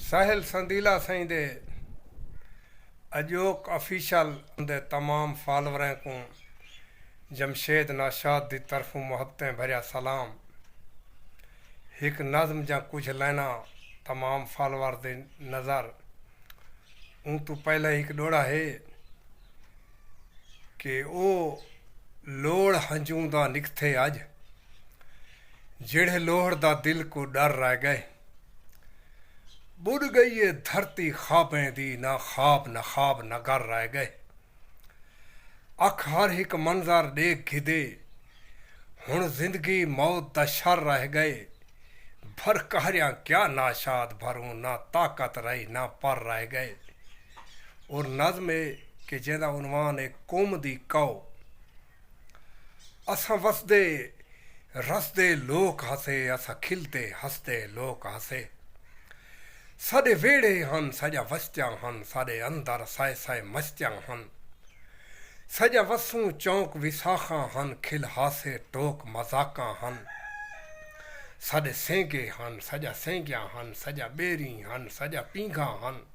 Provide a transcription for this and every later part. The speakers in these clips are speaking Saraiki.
ساحل سندیلہ سئیں دے اڄوک آفیشل دے تمام فالوریں کوں جمشید ناشاد دی طرفوں محبتیں بھریا سلام ہک نظم جاں کجھ لائناں تمام فالوور دی نظر اوں توں پہلے ہک ڈوڑا ہے کہ او لوڑ ہنجوں دا نکتھے اج جیڑھے لوہڑ دا دل کوں ڈر رہ گئے۔ ٻݙ ڳئی اے دھرتی خوابیں دی نہ خواب نہ خواب نگر رہ ڳئے اکھ ہر ہک منظر ݙیکھ گھدے ہݨ زندگی موت دا شر رہ ڳئے بھر قہریاں کیا ناشاد بھروں نہ طاقت رہی نہ پر رہ ڳئے اور نظم اے کہ جیندا عنوان اے قوم دی کاؤ اساں وسدے رسدے لوک ہاسے اساں کھلدے ہسدے لوک ہاسے ساڈے ویڑھے ہن ساجا وستیاں ہن ساڈے اندر سائے سائے مستیاں ہن ساجا وسوں چونک وساخاں ہن کھل ہاسے ٹوک مذاقاں ہن ساڈے سینگے ہن ساجا سینگیاں ہن ساجا بیریں ہن ساجا پینگھاں ہن۔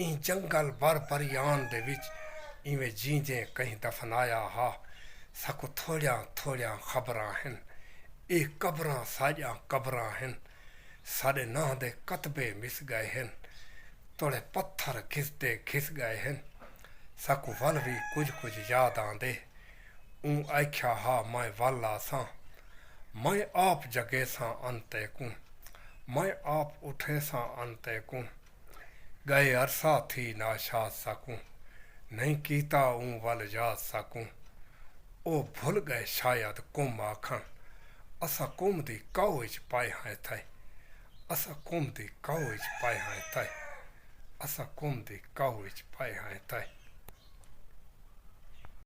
ایں جنگل بر بریان دے وچ ایویں جینجیں کہیں دفنایا ہا۔ ساکوں تھوڑیاں تھوڑیاں خبراں ہن۔ اے قبراں ساڈیاں قبراں ہن۔ ساڈے ناں دے کتبے مس گئے ہن۔ توڑے پتھر گھسدے گھس گئے ہن۔ ساکوں ول وی کجھ کجھ یاد آندے۔ اوں آکھیا ہا میں ول آساں۔ میں آپ جگیساں انتے کوں۔ میں آپ اٹھیساں انتے کوں۔ ڳئے عرصہ تھی ناشاد ساکوں نئیں کیتا اوں ول یاد ساکوں او بھل ڳئے شاید قوم آکھݨ اساں قوم دی کاؤ اچ پائے ہاں اتھائے اساں قوم دی کاؤ اچ پائے ہاں اتھائے اساں قوم دی کاؤ اچ پائے ہاں اتھائے۔